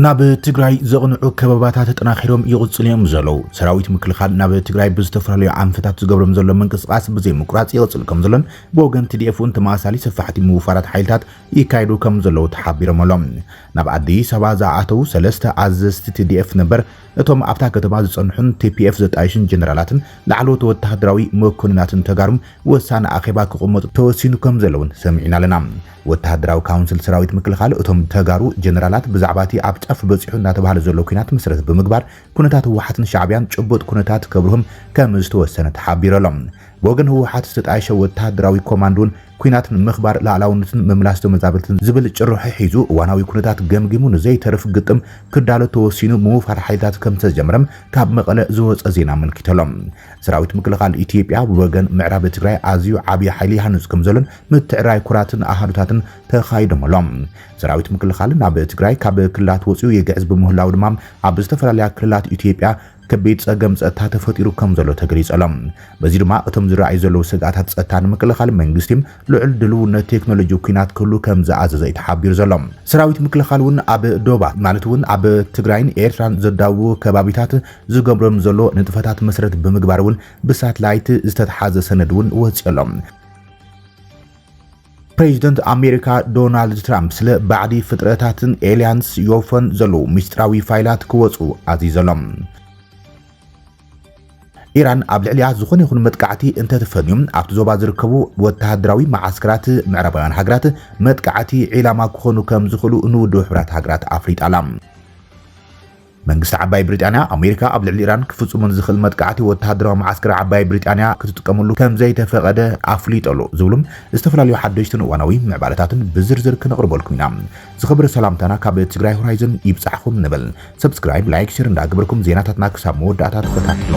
ናብ ትግራይ ዘቕንዑ ከበባታት ተጠናኺሮም ይቕፅሉ እዮም ዘለዉ። ሰራዊት ምክልኻል ናብ ትግራይ ብዝተፈላለዩ ኣንፈታት ዝገብሮም ዘሎ ምንቅስቓስ ብዘይምቁራፅ ይቕፅል ከም ዘሎን ብወገን ቲዲኤፍ እውን ተመሳሳሊ ሰፋሕቲ ምውፋራት ሓይልታት ይካየዱ ከም ዘለዉ ተሓቢሮም ኣሎም። ናብ ኣዲስ ኣበባ ዝኣኣተዉ ሰለስተ ኣዘዝቲ ቲዲኤፍ ነበር፣ እቶም ኣብታ ከተማ ዝጸንሑን ቲፒኤፍ ዘጣይሹን ጀነራላትን ላዕለዎት ወተሃደራዊ መኮንናትን ተጋሩን ወሳኒ ኣኼባ ክቕመጡ ተወሲኑ ከምዘሎ'ውን ሰሚዕና ኣለና። ወተሃደራዊ ካውንስል ሰራዊት ምክልኻል፣ እቶም ተጋሩ ጀነራላት ብዛዕባ'ቲ ኣብ ጫፍ በጺሑ እናተባህለ ዘሎ ኲናት መሰረት ብምግባር ኩነታት ህወሓትን ሻዕቢያን ጭቡጥ ኩነታት ከብርሁም ከምዝተወሰነ ተሓቢሩ ኣሎ። ብወገን ህወሓት ዝተጣየሸ ወተሃደራዊ ኮማንድ'ውን ኲናት ንምኽባር ላእላውነትን ምምላስ ተመዛበልትን ዝብል ጭርሖ ሒዙ እዋናዊ ኩነታት ገምጊሙ ንዘይተርፍ ግጥም ክዳሎ ተወሲኑ ምውፋር ሓይልታት ከምዝተጀመረም ካብ መቐለ ዝወፀ ዜና ኣመልኪቱ'ሎ። ሰራዊት ምክልኻል ኢትዮጵያ ብወገን ምዕራብ ትግራይ ኣዝዩ ዓብዪ ሓይሊ ይሃንፅ ከምዘሎን ምትዕርራይ ኩራትን ኣሃዱታትን ተኻይዶም'ሎ። ሰራዊት ምክልኻል ናብ ትግራይ ካብ ክልላት ወፂኡ ይግዕዝ ብምህላዉ ድማ ኣብ ዝተፈላለያ ክልላት ኢትዮጵያ ከቢድ ጸገም ጸጥታ ተፈጢሩ ከም ዘሎ ተገሊጹ ኣሎ። በዚ ድማ እቶም ዝረኣዩ ዘለዉ ስግኣታት ጸጥታ ንምክልኻል መንግስቲ ልዑል ድልውነት ቴክኖሎጂ ኲናት ክህሉ ከም ዝኣዘዘ እዩ ተሓቢሩ ዘሎ። ሰራዊት ምክልኻል እውን ኣብ ዶባት ማለት እውን ኣብ ትግራይን ኤርትራን ዘዳውቡ ከባቢታት ዝገብሮም ዘሎ ንጥፈታት መሰረት ብምግባር እውን ብሳትላይት ዝተትሓዘ ሰነድ እውን ወጺኡ ኣሎ። ፕሬዚደንት ኣሜሪካ ዶናልድ ትራምፕ ስለ ባዕዲ ፍጥረታትን ኤልያንስ ዮፎን ዘለዉ ምስጢራዊ ፋይላት ክወፁ ኣዚዘሎም። ኢራን ኣብ ልዕሊኣ ዝኾነ ይኹን መጥቃዕቲ እንተትፈንዩ ኣብቲ ዞባ ዝርከቡ ወተሃደራዊ መዓስከራት ምዕራባውያን ሃገራት መጥቃዕቲ ዒላማ ክኾኑ ከም ዝኽእሉ ንውድብ ሕብራት ሃገራት ኣፍሊጣ ኣላ። መንግስቲ ዓባይ ብሪጣንያ፣ ኣሜሪካ ኣብ ልዕሊ ኢራን ክፍጽሞ ንዝኽእል መጥቃዕቲ ወተሃደራዊ መዓስከር ዓባይ ብሪጣንያ ክትጥቀመሉ ከም ዘይተፈቐደ ኣፍሊጡ ኣሎ ዝብሉ ዝተፈላለዩ ሓደሽትን እዋናዊ ምዕባለታትን ብዝርዝር ክነቕርበልኩም ኢና። ዝኸበረ ሰላምታና ካብ ትግራይ ሆራይዘን ይብጻሕኹም ንብል። ሰብስክራይብ፣ ላይክ፣ ሼር እንዳገበርኩም ዜናታትና ክሳብ መወዳእታ ተኸታተሉ።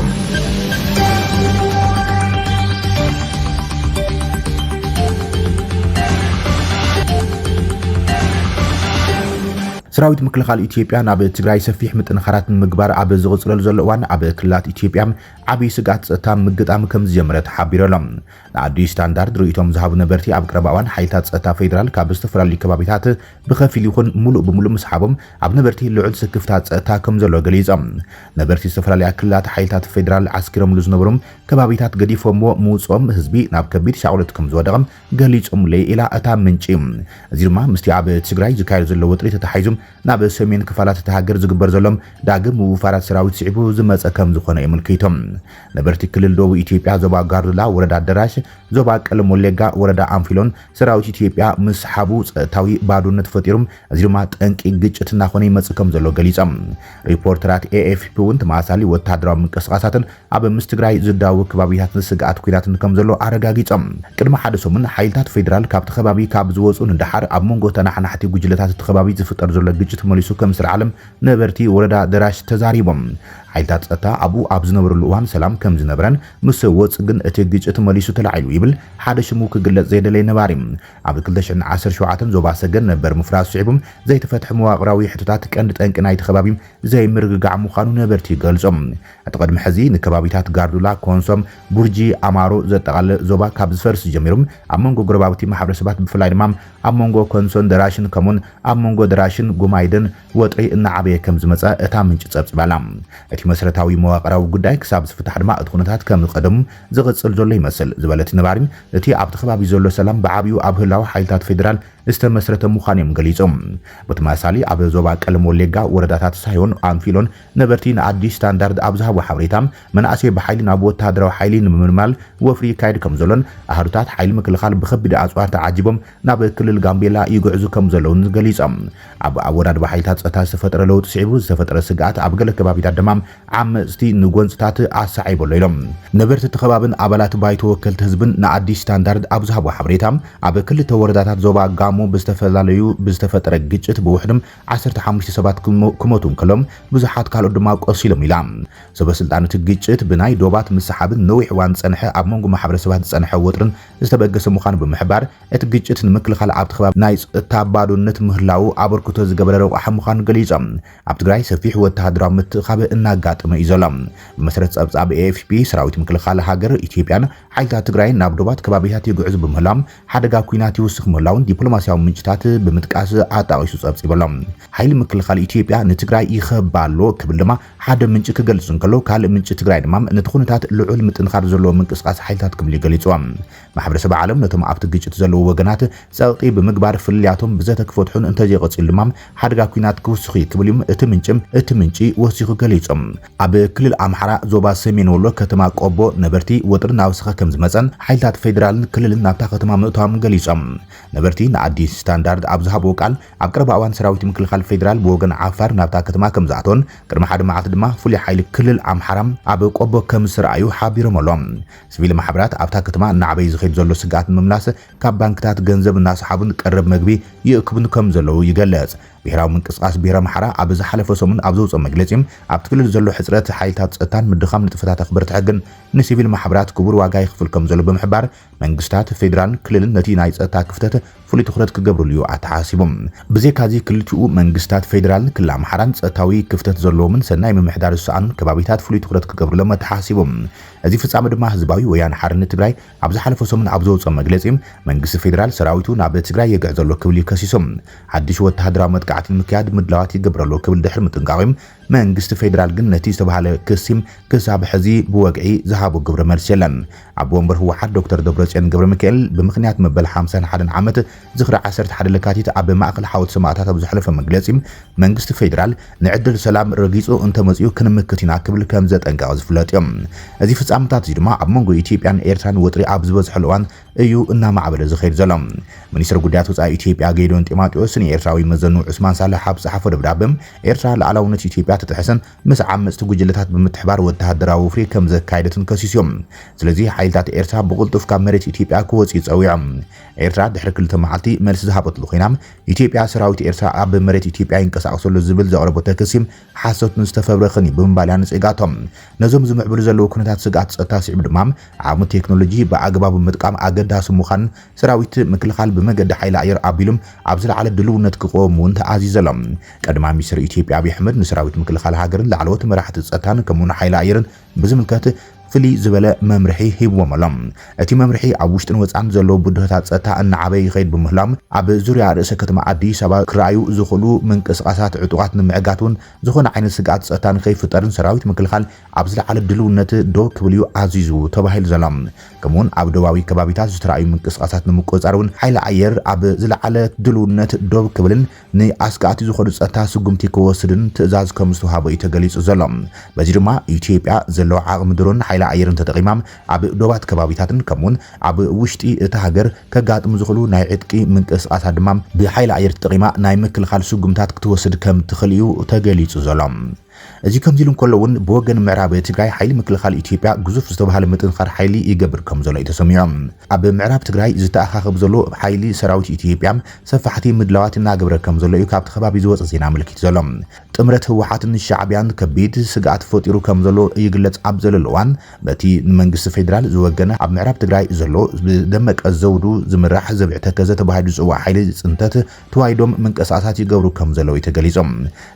ሰራዊት ምክልኻል ኢትዮጵያ ናብ ትግራይ ሰፊሕ ምጥንኻራት ንምግባር ኣብ ዝቕፅለሉ ዘሎ እዋን ኣብ ክልላት ኢትዮጵያ ዓብዪ ስግኣት ፀጥታ ምግጣም ከምዝጀመረ ተሓቢሩ ኣሎ። ንኣዲስ ስታንዳርድ ርእይቶኦም ዝሃቡ ነበርቲ ኣብ ቀረባ እዋን ሓይልታት ፀጥታ ፌዴራል ካብ ዝተፈላለዩ ከባቢታት ብኸፊል ይኹን ሙሉእ ብሙሉእ ምስሓቦም ኣብ ነበርቲ ልዑል ስክፍታ ፀጥታ ከምዘሎ ገሊፆም። ነበርቲ ዝተፈላለያ ክልላት ሓይልታት ፌዴራል ዓስኪሮምሉ ዝነበሩ ከባቢታት ገዲፎምዎ ምውፅኦም ህዝቢ ናብ ከቢድ ሻቕሎት ከምዝወደቐ ገሊጾምለይ ኢላ እታ ምንጪ። እዚ ድማ ምስቲ ኣብ ትግራይ ዝካየድ ዘሎ ወጥሪ ተተሓሒዙ ናብ ሰሜን ክፋላት እታ ሃገር ዝግበር ዘሎ ዳግም ምውፋራት ሰራዊት ስዒቡ ዝመጸ ከምዝኾነ የመልኪቱ። ነበርቲ ክልል ደቡብ ኢትዮጵያ ዞባ ጋርዱላ ወረዳ ኣደራሽ፣ ዞባ ቀለም ወሌጋ ወረዳ ኣንፊሎን ሰራዊት ኢትዮጵያ ምስሓቡ ጸጥታዊ ባዶነት ፈጢሩ እዚ ድማ ጠንቂ ግጭት እናኾነ ይመጽእ ከምዘሎ ገሊጾም። ሪፖርተራት ኤኤፍፒ'ውን ተመሳሳሊ ወተሃደራዊ ምንቅስቓሳትን ኣብ ምስ ትግራይ ዝዳወብ ከባቢታትን ስግኣት ኲናትን ከምዘሎ ኣረጋጊጾም። ቅድሚ ሓደ ሰሙን፣ ሓይልታት ፌደራል ካብቲ ከባቢ ካብ ዝወጽኡ ንደሓር፣ ኣብ መንጎ ተነሓናሕቲ ጉጅለታት እቲ ከባቢ ዝፍጠር ዘሎ ግጭት መሊሱ ከምዝስርዓለም ነበርቲ ወረዳ ደራሽ ተዛሪቦም። ሓይልታት ጸጥታ ኣብኡ ኣብ ዝነበርሉ እዋን ሰላም ከምዝነበረን፣ ምስ ወጽእ ግን እቲ ግጭት መሊሱ ተላዒሉ ይብል ሓደ ሽሙ ክግለጽ ዘይደለየ ነባሪ። ኣብ ክልተ ሽሕን ዓሰርተ ሸውዓተን ዞባ ሰገን ነበር ምፍራሱ ስዒቡ ዘይተፈትሐ መዋቕራዊ ሕቶታት ቀንዲ ጠንቂ ናይቲ ከባቢ ዘይምርግጋዕ ምዃኑ ነበርቲ ይገልጹ። እቲ ቅድሚ ሕዚ ንከባቢታት ጋርዱላ፣ ኮንሶ፣ ቡርጂ፣ ኣማሮ ዘጠቓልል ዞባ ካብ ዝፈርስ ጀሚሩ ኣብ መንጎ ጎረባብቲ ማሕበረሰባት ብፍላይ ድማ ኣብ መንጎ ኮንሶን ደራሽን ከምኡ'ውን ኣብ መንጎ ደራሽን ጉማይድን ወጥሪ እናዓበየ ከም ዝመጸ እታ ምንጪ ጸብጺባ ኣላ። እቲ መሰረታዊ መዋቕራዊ ጉዳይ ክሳብ ዝፍታሕ ድማ እቲ ኩነታት ከም ቀደሙ ዝቕጽል ዘሎ ይመስል ዝበለ እቲ ነባሪ፣ እቲ ኣብቲ ከባቢ ዘሎ ሰላም ብዓቢኡ ኣብ ህላወ ሓይልታት ፌደራል ዝተመስረተ ምዃኑ'ዮም ገሊጾም። ብተመሳሳሊ ኣብ ዞባ ቀለም ወሌጋ ወረዳታት ሳዮን፣ ኣንፊሎን ነበርቲ ንኣዲስ ስታንዳርድ ኣብ ዝሃብዎ ሓበሬታ፣ መናእሰይ ብሓይሊ ናብ ወተሃደራዊ ሓይሊ ንምምልማል ወፍሪ ይካየድ ከምዘሎን ኣሃዱታት ሓይሊ ምክልኻል ብከቢድ ኣጽዋር ተዓጂቦም ናብ ክልል ጋምቤላ ይግዕዙ ከምዘለዉን ገሊጾም። ኣብ ኣወዳድባ ሓይልታት ጸጥታ ዝተፈጠረ ለውጢ ስዒቡ ዝተፈጠረ ስግኣት ኣብ ገለ ከባቢታት ድማ ዓመጽቲ ንጎንጽታት ኣሰዓይቡ ኣሎ ኢሎም። ነበርቲ እቲ ከባብን ኣባላት ባይቶ ወከልቲ ህዝብን ንኣዲስ ስታንዳርድ ኣብ ዝሃብዎ ሓበሬታ፣ ኣብ ክልተ ወረዳታት ዞባ ጋሞ ብዝተፈላለዩ ብዝተፈጠረ ግጭት ብውሕዱ ዓሰርተ ሓሙሽተ ሰባት ክሞቱ እንከሎ ብዙሓት ካልኦት ድማ ቆሲሎም ኢላ። ሰበስልጣን እቲ ግጭት ብናይ ዶባት ምስሓብን ንነዊሕ እዋን ዝጸንሐ ኣብ መንጎ ማሕበረሰባት ዝጸንሐ ወጥርን ዝተበገሰ ምዃኑ ብምሕባር፣ እቲ ግጭት ንምክልኻል ኣብቲ ከባቢ ናይ ጸጥታ ባዶነት ምህላዉ ኣበርክቶ ዝገበረ ረቋሒ ምዃኑ ገሊጾም። ኣብ ትግራይ ሰፊሕ ወተሃደራዊ ምትእኻብ እናጋጠመ እዩ ዘሎ። ብመሰረት ጸብጻብ ኤኤፍፒ፣ ሰራዊት ምክልኻል ሃገር ኢትዮጵያን ሓይልታት ትግራይን ናብ ዶባት ከባቢታት ይግዕዙ ብምህላዎም ሓደጋ ኲናት ይውስኽ ምህላዉን ዲፕሎማስያዊ ምንጭታት ብምጥቃስ ኣጣቒሱ ጸብጺቡ'ሎ። ሓይሊ ምክልኻል ኢትዮጵያ ንትግራይ ይኸባ ኣሎ ክብል ድማ ሓደ ምንጪ ክገልጽ እንከሎ ካልእ ምንጪ ትግራይ ድማ ነቲ ኩነታት ልዑል ምጥንኻር ዘለዎ ምንቅስቓስ ሓይልታት ክብል'ዩ ገሊጹዎ። ማሕበረሰብ ዓለም ነቶም ኣብቲ ግጭት ዘለዉ ወገናት ጸቕጢ ብምግባር ፍልልያቶም ብዘተ ክፈትሑን እንተዘይቐጺሉ ድማ ሓደጋ ኲናት ክውስኽ'ዩ ክብል'ዩ እቲ ምንጪ እቲ ምንጪ ወሲኹ ገሊጹ። ኣብ ክልል ኣምሓራ ዞባ ሰሜን ወሎ ከተማ ቆቦ ነበርቲ ወጥሪ እናወሰኸ ከምዝመፀን ሓይልታት ፌዴራልን ክልልን ናብታ ከተማ ምእታዎም ገሊፆም። ነበርቲ ንኣዲስ ስታንዳርድ ኣብ ዝሃብዎ ቃል ኣብ ቀረባ እዋን ሰራዊት ምክልኻል ፌዴራል ብወገን ዓፋር ናብታ ከተማ ከምዝኣተወን ቅድሚ ሓደ መዓልቲ ድማ ፍሉይ ሓይሊ ክልል ኣምሓራ ኣብ ቆቦ ከምዝተርኣዩ ሓቢሮም ኣሎም። ስቪል ማሕበራት ኣብታ ከተማ እናዕበየ ዝኸይድ ዘሎ ስግኣት ንምምላስ ካብ ባንክታት ገንዘብ እናሰሓቡን ቀረብ መግቢ ይእክቡን ከምዘለዉ ይገልፅ። ብሄራዊ ምንቅስቓስ ብሄረ ኣምሓራ ኣብ ዝሓለፈ ሰሙን ኣብ ዘውፅኦ መግለፂ ኣብቲ ክልል ዘሎ ሕፅረት ሓይልታት ፀጥታን ምድኻም ንጥፈታት ኣኽበርቲ ሕግን ንሲቪል ማሕበራት ክቡር ዋጋ የኽፍል ከምዘሎ ብምሕባር መንግስታት ፌዴራልን ክልልን ነቲ ናይ ፀጥታ ክፍተት ፍሉይ ትኹረት ክገብርሉ እዩ ኣተሓሳሲቡ። ብዘይካ እዚ ክልቲኡ መንግስታት ፌዴራልን ክልል ኣምሓራን ፀጥታዊ ክፍተት ዘለዎምን ሰናይ ምምሕዳር ዝሰኣኑን ከባቢታት ፍሉይ ትኹረት ክገብርሎም ኣተሓሳሲቡ። እዚ ፍፃመ ድማ ህዝባዊ ወያነ ሓርነት ትግራይ ኣብ ዝሓለፈ ሰሙን ኣብ ዘውጽኦ መግለጺ፣ መንግስቲ ፌደራል ሰራዊቱ ናብ ትግራይ የግዕዝ ኣሎ ክብል እዩ ከሲሱ። ሓድሽ ወተሃደራዊ መጥቃዕቲ ንምክያድ ምድላዋት ይገብር ኣሎ ክብል ድሕሪ ምጥንቃቑ፣ መንግስቲ ፌደራል ግን ነቲ ዝተባህለ ክሲ ክሳብ ሕዚ ብወግዒ ዝሃቦ ግብረ መልሲ የለን። ኣቦ ወንበር ህወሓት ዶክተር ደብረጽዮን ገብረሚካኤል፣ ብምኽንያት መበል ሓምሳን ሓደን ዓመት ዝኽሪ ዓሰርተ ሓደ ለካቲት ኣብ ማእኸል ሓወልቲ ሰማእታት ኣብ ዘሕለፎ መግለፂ፣ መንግስቲ ፌዴራል ንዕድል ሰላም ረጊፁ እንተመፂኡ ክንምክት ኢና ክብል ከምዘጠንቀቐ ዝፍለጥ እዩ። እዚ ፍፃመታት እዚ ድማ ኣብ መንጎ ኢትዮጵያን ኤርትራን ወጥሪ ኣብ ዝበዝሐሉ እዋን እዩ እናማዕበለ ዝኸይድ ዘሎ። ሚኒስትር ጉዳያት ወፃኢ ኢትዮጵያ ጌዲዮን ጢማጢዎስ ንኤርትራዊ መዘኑ ዑስማን ሳልሕ ኣብ ዝፀሓፎ ደብዳበ፣ ኤርትራ ልኣላውነት ኢትዮጵያ ተጥሕስን ምስ ዓመፅቲ ጉጅለታት ብምትሕባር ወተሃደራዊ ወፍሪ ከምዘካየደትን ከሲሱ እዩ። ስለዚ ሓይልታት ኤርትራ ብቕልጡፍ ካብ መሬት ኢትዮጵያ ክወፅኡ ፀዊዑ። ኤርትራ ድሕሪ ክልተ መዓልቲ መልሲ ዝሃበትሉ ኮይና፣ ኢትዮጵያ ሰራዊት ኤርትራ ኣብ መሬት ኢትዮጵያ ይንቀሳቐስ ኣሎ ዝብል ዘቕረበቶ ክሲ ሓሶትን ዝተፈብረኸን እዩ ብምባል እያ ነጺጋቶ። ነዞም ዝምዕብሉ ዘለዉ ኩነታት ስግኣት ጸጥታ ስዒቡ ድማ ዓቕሚ ቴክኖሎጂ ብኣግባቡ ምጥቃም ኣገዳሲ ምዃኑን ሰራዊት ምክልኻል ብመገዲ ሓይሊ ኣየር ኣቢሉ ኣብ ዝለዓለ ድልውነት ክቐወም እውን ተኣዚዙ ኣሎ። ቀዳማይ ሚኒስተር ኢትዮጵያ ኣብይ ኣሕመድ ንሰራዊት ምክልኻል ሃገርን ላዕለዎት መራሕቲ ጸጥታን ከምኡ'ውን ሓይሊ ኣየርን ብዝምልከት ፍልይ ዝበለ መምርሒ ሂብዎም ኣሎ። እቲ መምርሒ ኣብ ውሽጥን ወጻእን ዘለዉ ብድሆታት ጸጥታ እናዓበየ ይኸይድ ብምህላው ኣብ ዙርያ ርእሰ ከተማ ኣዲስ ኣበባ ክረኣዩ ዝኽእሉ ምንቅስቓሳት ዕጡቓት ንምዕጋቱን ዝኾነ ዓይነት ስግኣት ጸጥታ ንከይፍጠርን ሰራዊት ምክልኻል ኣብ ዝለዓለ ድልውነት ደው ክብል'ዩ ኣዚዙ ተባሂሉ ዘሎ። ከምኡ'ውን ኣብ ዶባዊ ከባቢታት ዝተራእዩ ምንቅስቓሳት ንምቁጽጻር እውን ሓይሊ ኣየር ኣብ ዝለዓለ ድልውነት ደው ክብልን ንኣስጋእቲ ዝኾኑ ጸጥታ ስጉምቲ ክወስድን ትእዛዝ ከምዝተውሃቦ'ዩ ተገሊጹ ዘሎ። በዚ ድማ ኢትዮጵያ ዘለዋ ዓቕሚ ድሮንን ሓይሊ ኣየርን ተጠቒማ ኣብ ዶባት ከባቢታትን ከምኡ'ውን ኣብ ውሽጢ እታ ሃገር ከጋጥሙ ዝኽእሉ ናይ ዕጥቂ ምንቅስቓሳት ድማ ብሓይሊ ኣየር ተጠቒማ ናይ ምክልኻል ስጉምታት ክትወስድ ከምትኽእል'ዩ ተገሊጹ ዘሎ። እዚ ከምዚ ኢሉ እንከሎ እውን ብወገን ምዕራብ ትግራይ ሓይሊ ምክልኻል ኢትዮጵያ ግዙፍ ዝተብሃለ ምጥንኻር ሓይሊ ይገብር ከምዘሎ እዩ ተሰሚዑ። ኣብ ምዕራብ ትግራይ ዝተኣኻኸብ ዘሎ ሓይሊ ሰራዊት ኢትዮጵያ ሰፋሕቲ ምድላዋት እናገበረ ከምዘሎ እዩ ካብቲ ከባቢ ዝወፀ ዜና ኣመልኪቱ ዘሎ። ጥምረት ህወሓትን ሻዕቢያን ከቢድ ስግኣት ፈጢሩ ከምዘሎ ይግለፅ ኣብ ዘለሉ እዋን በቲ ንመንግስቲ ፌዴራል ዝወገነ ኣብ ምዕራብ ትግራይ ዘሎ ብደመቀ ዘውዱ ዝምራሕ ዘብዒ ተከዘ ተባሂሉ ዝፅዋዕ ሓይሊ ፅንተት ተዋሂዶም ምንቅስቓሳት ይገብሩ ከምዘለዉ እዩ ተገሊጹ።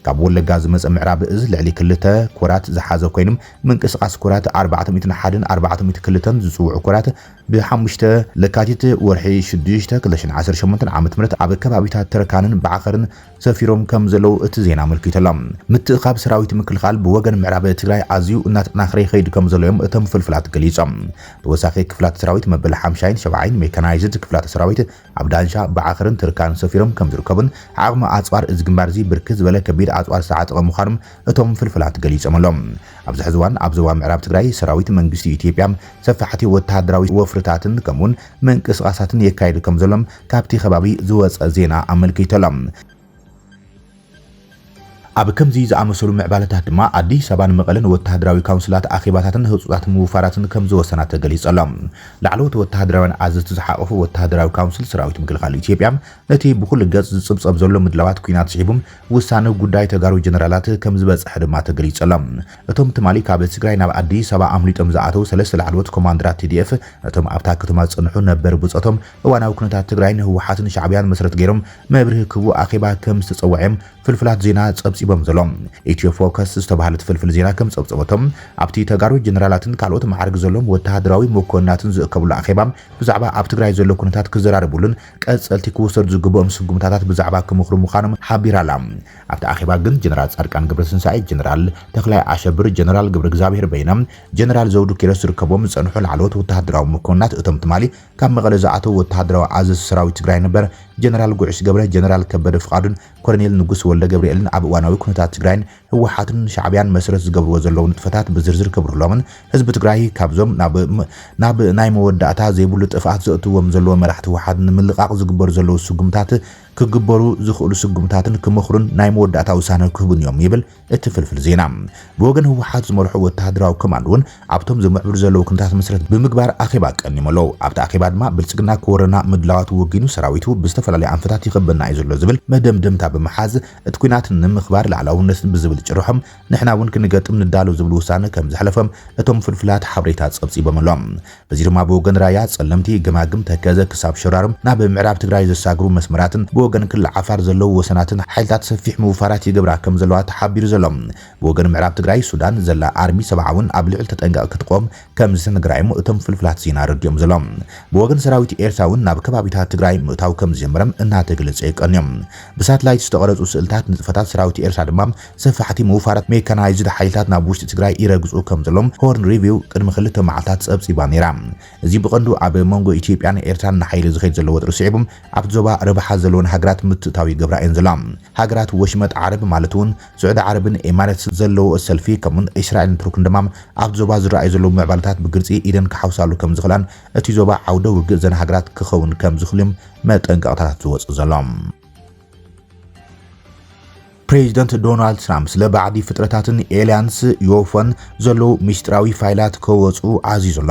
ካብ ወለጋ ዝመጸ ምዕራብ እዝ ልዕሊ ክልተ ኮራት ዝሓዘ ኮይኑ፣ ምንቅስቓስ ኮራት ኣርባዕተ ሚእትን ሓደን ኣርባዕተ ሚእቲ ክልተን ዝጽውዑ ኮራት ብ ሓሙሽተ ለካቲት፣ ወርሒ ሽዱሽተ፣ ክልተ ሽሕን ዓሰርተ ሸሞንተን ዓመተ ምህረት ኣብ ከባቢታት ተረካንን ባዕኸርን ሰፊሮም ከምዘለዉ እቲ ዜና ኣመልኪቱ ኣሎ። ምትእኽኻብ ሰራዊት ምክልኻል ብወገን ምዕራብ ትግራይ ኣዝዩ እናተጠናኸረ ይኸይድ ከምዘሎ እዮም እቶም ፍልፍላት ገሊጾም። ተወሳኺ ክፍላት ሰራዊት መበል ሓምሻይን ሸብዓይን ሜካናይዝድ ክፍላተ ሰራዊት ኣብ ዳንሻ፣ ባዕኽርን ትርካን ሰፊሮም ከም ዝርከቡን ዓቕሚ ኣጽዋር እዚ ግንባር'ዚ ብርክት ዝበለ ከቢድ ኣጽዋር ዝተዓጠቐ ምዃኑን እቶም ፍልፍላት ገሊጾም ኣለው። ኣብዚ ሕዚ እዋን ኣብ ዞባ ምዕራብ ትግራይ ሰራዊት መንግስቲ ኢትዮጵያ ሰፋሕቲ ወተሃደራዊ ወፍርታትን ከምኡ'ውን ምንቅስቓሳትን የካይድ ከም ዘሎን ካብቲ ከባቢ ዝወጸ ዜና ኣመልኪቱ ኣሎ። ኣብ ከምዚ ዝኣመሰሉ ምዕባለታት ድማ ኣዲስ ኣበባ ንመቐለ ንወተሃደራዊ ካውንስላት ኣኼባታትን ህጹጻት ምውፋራትን ከም ዝወሰና ተገሊጹ ኣሎ። ላዕለዎት ወተሃደራውያን ኣዘዝቲ ዝሓቖፈ ወተሃደራዊ ካውንስል ሰራዊት ምክልኻል ኢትዮጵያ ነቲ ብኹሉ ገጽ ዝጽብጸብ ዘሎ ምድላዋት ኲናት ስዒቡ ውሳነ ጉዳይ ተጋሩ ጀነራላት ከም ዝበጸሐ ድማ ተገሊጹ ኣሎ። እቶም ትማሊ ካብ ትግራይ ናብ ኣዲስ ኣበባ ኣምሊጦም ዝኣተው ሰለስተ ላዕለዎት ኮማንደራት ቲዲኤፍ ነቶም ኣብታ ከተማ ዝጸንሑ ነበር ብጾቶም እዋናዊ ኩነታት ትግራይ ንህወሓትን ሻዕብያን መሰረት ገይሮም መብርሂ ክህቡ ኣኼባ ከም ዝተፀውዐ'ዮም ፍልፍላት ዜና ፀብፂቦም ዘለው። ኢትዮ ፎከስ ዝተብሃለት ፍልፍል ዜና ከም ፀብፀበቶ፣ ኣብቲ ተጋሩ ጀነራላትን ካልኦት መዓርግ ዘለዎም ወተሃደራዊ መኮንናትን ዝእከብሉ ኣኼባ ብዛዕባ ኣብ ትግራይ ዘሎ ኩነታት ክዘራረብሉን ቀፀልቲ ክውሰዱ ዝግበኦም ስጉምታታት ብዛዕባ ክመኽሩ ምዃኖም ሓቢራ'ላ። ኣብቲ ኣኼባ ግን ጀነራል ፃድቃን ገብረትንሳኤ፣ ጀነራል ተኽላይ ኣሸብር፣ ጀነራል ገብረእግዝኣብሄር በይነ፣ ጀነራል ዘውዱ ኪሮስ ዝርከብዎም ዝፀንሑ ላዕለዎት ወተሃደራዊ መኮንናት እቶም ትማሊ ካብ መቐለ ዝኣተው ወተሃደራዊ ኣዘዝቲ ሰራዊት ትግራይ ነበር ጀነራል ጉዕሽ ገብረ፣ ጀነራል ከበደ ፍቓዱን ኮሎኔል ንጉስ ወልደገብርኤልን ኣብ እዋናዊ ኩነታት ትግራይን ህወሓትን ሻዕብያን መሰረት ዝገብርዎ ዘለው ንጥፈታት ብዝርዝር ከብርህሎምን ህዝቢ ትግራይ ካብዞም ናብ ናይ መወዳእታ ዘይብሉ ጥፍኣት ዘእትዎም ዘለዎ መራሕቲ ህወሓት ንምልቓቕ ዝግበሩ ዘለው ስጉምታት ክግበሩ ዝኽእሉ ስጉምታትን ክመኽሩን ናይ መወዳእታ ውሳነ ክህቡን እዮም ይብል እቲ ፍልፍል ዜና ብወገን ህወሓት ዝመርሖ ወተሃደራዊ ኮማንድ'ውን ኣብቶም ዝምዕብሉ ዘለዉ ኩነታት መሰረት ብምግባር ኣኼባ ቀኒሙ ኣሎ። ኣብቲ ኣኼባ ድማ ብልጽግና ክወረና ምድላዋቱ ወጊኑ ሰራዊቱ ብዝተፈላለዩ ኣንፈታት ይኸበና እዩ ዘሎ ዝብል መደምደምታ ብምሓዝ እቲ ኲናት ንምኽባር ልኣላውነት ብዝብል ጭርሖ ንሕና'ውን ክንገጥም ንዳሎ ዝብል ውሳነ ከምዘሕለፈ እቶም ፍልፍላት ሓበሬታ ጸብጺቦም ኣሎም። እዚ ድማ ብወገን ራያ፣ ፀለምቲ፣ ገማግም፣ ተከዘ ክሳብ ሸራሮ ናብ ምዕራብ ትግራይ ዘሳግሩ መስመራትን ብወገን ክልል ዓፋር ዘለዉ ወሰናትን ሓይልታት ሰፊሕ ምውፋራት ይገብራ ከምዘለዋ ተሓቢሩ ዘሎ። ብወገን ምዕራብ ትግራይ ሱዳን ዘላ ኣርሚ ሰብዓ እውን ኣብ ልዕሊ ተጠንቀቕ ክትቆም ከምዝተነገራ እዮም እቶም ፍልፍላት ዜና ኣረዲኦም ዘሎም። ብወገን ሰራዊት ኤርትራ እውን ናብ ከባቢታት ትግራይ ምእታው ከምዝጀመረም እናተገለፀ የቀንዮም። ብሳትላይት ዝተቐረፁ ስእልታት ንጥፈታት ሰራዊት ኤርትራ ድማ ሰፋሕቲ ምውፋራት ሜካናይዝድ ሓይልታት ናብ ውሽጢ ትግራይ ይረግፁ ከምዘለዉ ሆርን ሪቪው ቅድሚ ክልተ መዓልታት ፀብፂባ ነይራ። እዚ ብቐንዱ ኣብ መንጎ ኢትዮጵያን ኤርትራን ንሓይሊ ዝኸይድ ዘሎ ወጥሪ ስዒቡ ኣብቲ ዞባ ረብሓ ዘለወን ሃገራት ምትእትታው ይገብራ እየን ዘለዋ። ሃገራት ወሽመጥ ዓረብ ማለት እውን ስዑዲ ዓረብን ኤማሬትስን ዘለወኦ ሰልፊ ከምኡውን እስራኤልን ቱርክን ድማ ኣብቲ ዞባ ዝረኣዩ ዘለዉ ምዕባለታት ብግልፂ ኢደን ክሓውሳሉ ከምዝኽእላን እቲ ዞባ ዓውደ ውግእ እዘን ሃገራት ክኸውን ከምዝኽእሉ'ዮም መጠንቀቕታታት ዝወፅእ ዘሎ። ፕሬዚደንት ዶናልድ ትራምፕ ስለ ባዕዲ ፍጥረታትን ኤልያንስ ዮፎን ዘለዉ ምስጢራዊ ፋይላት ከወፁ ዓዚዙ ኣሎ።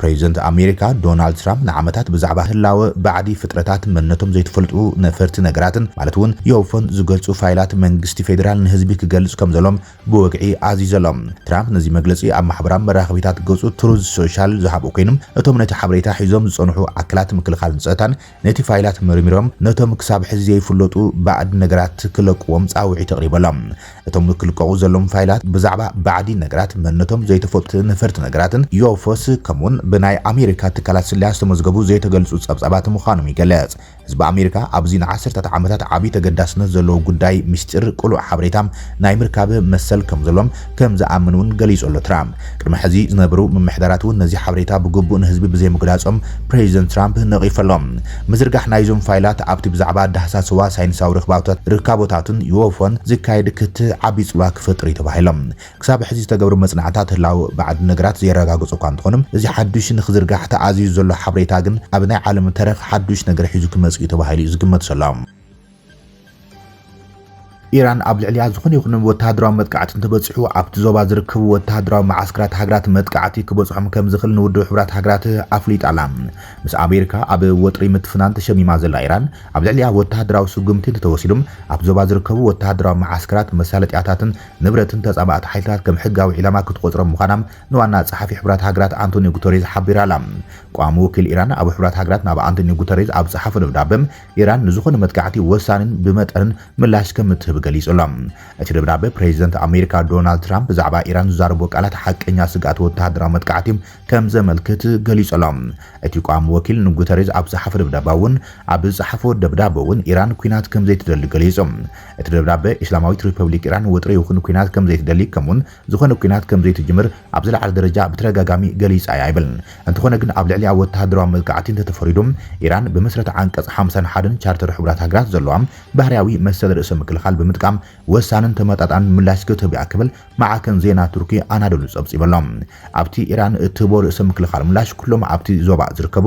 ፕሬዚደንት ኣሜሪካ ዶናልድ ትራምፕ ንዓመታት ብዛዕባ ህላወ ባዕዲ ፍጥረታት መንነቶም ዘይተፈልጡ ነፈርቲ ነገራትን ማለት እውን ዮፎን ዝገልፁ ፋይላት መንግስቲ ፌዴራል ንህዝቢ ክገልፅ ከም ዘሎም ብወግዒ ዓዚዙ ኣሎ። ትራምፕ ነዚ መግለፂ ኣብ ማሕበራዊ መራኸቢታት ገፁ ትሩዝ ሶሻል ዝሃብኡ ኮይኖም እቶም ነቲ ሓበሬታ ሒዞም ዝፀንሑ ኣካላት ምክልኻልን ፀጥታን ነቲ ፋይላት መርሚሮም ነቶም ክሳብ ሕዚ ዘይፍለጡ ባእድ ነገራት ክለቅዎም ጻውዒት ኣቕሪበሎም። እቶም ክልቀቑ ዘሎዎም ፋይላት ብዛዕባ ባዕዲ ነገራት፣ መንነቶም ዘይተፈልጡ ነፈርቲ ነገራትን፣ ዩኤፎስ፣ ከምኡውን ብናይ ኣሜሪካ ትካላት ስለያ ዝተመዝገቡ ዘይተገልጹ ጸብጻባት ምዃኖም ይገልጽ። ህዝቢ ኣሜሪካ ኣብዚ ንዓሰርታት ዓመታት ዓቢ ተገዳስነት ዘለዎ ጉዳይ ምስጢር ቅሉዕ ሓበሬታ ናይ ምርካብ መሰል ከምዘሎዎም ከም ዝኣምን እውን ገሊጹ ኣሎ። ትራምፕ ቅድሚ ሕዚ ዝነበሩ ምምሕዳራት እውን ነዚ ሓበሬታ ብግቡእ ንህዝቢ ብዘይምግላጾም ፕረዚደንት ትራምፕ ነቒፉ ኣሎ። ምዝርጋሕ ናይዞም ፋይላት ኣብቲ ብዛዕባ ዳህሳስዋ ሳይንሳዊ ርክባቶት ርካቦታትን ዩኤፎን ዝካየድ ክትዕ ዓቢ ጽልዋ ክፈጥር እዩ ተባሂሎ። ክሳብ ሕዚ ዝተገብሩ መጽናዕታት ህላወ ባዕዲ ነገራት ዘየረጋግጹ እኳ እንተኾኑ፣ እዚ ሓድሽ ንክዝርጋሕ ተኣዚዙ ዘሎ ሓበሬታ ግን ኣብ ናይ ዓለም ተረኽ ሓድሽ ነገር ሒዙ ክመጽእ እዩ ተባሂሉ እዩ ዝግመት ዘሎ። ኢራን ኣብ ልዕሊኣ ዝኾነ ይኹን ወተሃደራዊ መጥቃዕቲ እንተበጺሑ ኣብቲ ዞባ ዝርከቡ ወተሃደራዊ መዓስከራት ሃገራት መጥቃዕቲ ክበጽሖም ከምዝኽእል ንውድብ ሕቡራት ሃገራት ኣፍሊጣ ኣላ። ምስ ኣሜሪካ ኣብ ወጥሪ ምትፍናን ተሸሚማ ዘላ ኢራን፣ ኣብ ልዕሊኣ ወተሃደራዊ ስጉምቲ እንተተወሲዱ ኣብቲ ዞባ ዝርከቡ ወተሃደራዊ መዓስከራት፣ መሳለጥያታትን ንብረትን ተጻባእቲ ሓይልታት ከም ሕጋዊ ዒላማ ክትቆጽሮም ምዃና ንዋና ጸሓፊ ሕቡራት ሃገራት ኣንቶንዮ ጉተሬዝ ሓቢራ ኣላ። ቀዋሚ ወኪል ኢራን ኣብ ሕቡራት ሃገራት ናብ ኣንቶንዮ ጉተሬዝ ኣብ ዝጸሓፎ ደብዳበ፣ ኢራን ንዝኾነ መጥቃዕቲ ወሳኒን ብመጠንን ምላሽ ከም እትህብ ገሊጹ ኣሎ። እቲ ደብዳበ፣ ፕሬዚደንት ኣሜሪካ ዶናልድ ትራምፕ ብዛዕባ ኢራን ዝዛረቦ ቃላት ሓቀኛ ስግኣት ወተሃደራዊ መጥቃዕቲ ከም ዘመልክት ገሊጹ ኣሎ። እቲ ቋሚ ወኪል ንጉተሬዝ ኣብ ዝሓፎ ደብዳባ እውን ኣብ ዝጸሓፎ ደብዳበ እውን ኢራን ኲናት ከም ዘይትደሊ ገሊጹ። እቲ ደብዳበ፣ ኢስላማዊት ሪፐብሊክ ኢራን ወጥሪ ይኹን ኲናት ከም ዘይትደሊ ከምኡውን ዝኾነ ኲናት ከም ዘይትጅምር ኣብ ዝለዓለ ደረጃ ብተደጋጋሚ ገሊጻ እያ ይብል። እንተኾነ ግን ኣብ ልዕሊኣ ወተሃደራዊ መጥቃዕቲ እንተተፈሪዱ፣ ኢራን ብመሰረት ዓንቀጽ ሓምሳን ሓደን ቻርተር ሕቡራት ሃገራት ዘለዋ ባህርያዊ መሰል ርእሰ ምክልኻል ብምጥቃም ወሳንን ተመጣጣንን ምላሽ ክትህብ እያ ክብል ማዕከን ዜና ቱርኪ ኣናዶሉ ጸብጺቡ ኣሎ። ኣብቲ ኢራን እትህቦ ርእሰ ምክልኻል ምላሽ ኩሎም ኣብቲ ዞባ ዝርከቡ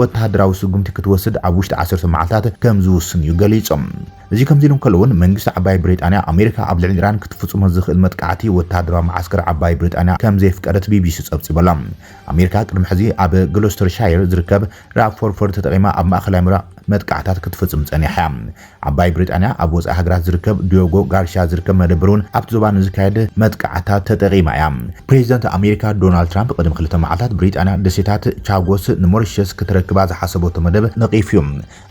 ወተሃደራዊ ስጉምቲ ክትወስድ ኣብ ውሽጢ ዓሰርተ መዓልታት ከም ዝውስን'ዩ ገሊጹ። እዚ ከምዚ ኢሉ እንከሎ'ውን መንግስቲ ዓባይ ብሪጣንያ ኣሜሪካ ኣብ ልዕሊ ኢራን ክትፍጽሞ ዝኽእል መጥቃዕቲ ወተሃደራዊ መዓስከር ዓባይ ብሪጣንያ ከም ዘየፍቀደት ቢቢሲ ጸብጺቡ ኣሎ። ኣሜሪካ ቅድሚ ሕዚ ኣብ ግሎስተርሻየር ዝርከብ ራፕፎርፎርድ ተጠቒማ ኣብ ማእከላይ ምብራቕ መጥቃዕታት ክትፍጽም ጸኒሓ'ያ። ዓባይ ብሪጣንያ ኣብ ወጻኢ ሃገራት ዝርከብ ዲዮጎ ጋርሽያ ዝርከብ መደበር'ውን ኣብቲ ዞባ ንዝካየድ መጥቃዕትታት ተጠቒማ እያ። ፕሬዚደንት ኣሜሪካ ዶናልድ ትራምፕ ቅድሚ ክልተ መዓልታት ብሪጣንያ ደሴታት ቻጎስ ንሞሪሸስ ክተረክባ ዝሓሰበቶ መደብ ነቒፉ እዩ።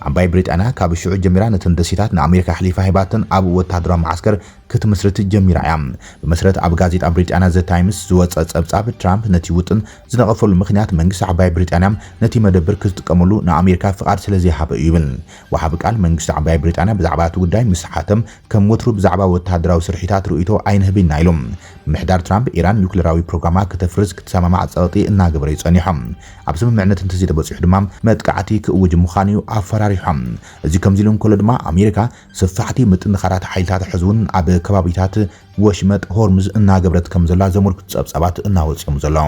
ዓባይ ብሪጣንያ ካብ ሽዑ ጀሚራ ነተን ደሴታት ንኣሜሪካ ኣሕሊፋ ሂባተን ኣብ ወተሃደራዊ መዓስከር ክትምስርት ጀሚራ እያ። ብመሰረት ኣብ ጋዜጣ ብሪጣንያ ዘ ታይምስ ዝወጸ ጸብጻብ፣ ትራምፕ ነቲ ውጥን ዝነቐፈሉ ምኽንያት መንግስቲ ዓባይ ብሪጣንያ ነቲ መደብር ክትጥቀመሉ ንኣሜሪካ ፍቓድ ስለዘይሃበ እዩ ይብል። ወሃቢ ቃል መንግስቲ ዓባይ ብሪጣንያ ብዛዕባ እቲ ጉዳይ ምስ ተሓተተ፣ ከም ወትሩ ብዛዕባ ወተሃደራዊ ስርሒታት ርእይቶ ኣይንህብን ኢና ኢሉ። ምምሕዳር ትራምፕ፣ ኢራን ኒዩክለራዊ ፕሮግራማ ክተፍርስ ክትሰማማዕ ጸቕጢ እናገበረ'ዩ ጸኒሖ። ኣብ ስምምዕነት እንተዘይተበጺሑ ድማ መጥቃዕቲ ክእውጅ ምዃኑ'ዩ ኣፈራሪሖ። እዚ ከምዚ'ሉ እንከሎ ድማ ኣሜሪካ ሰፋሕቲ ምጥንኻራት ሓይልታታ ሕዚ'ውን ኣብ ከባቢታት ወሽመጥ ሆርሙዝ እናገበረት ከምዘላ ዘመልክቱ ጸብጻባት እናወጹ'ዮም ዘለዉ።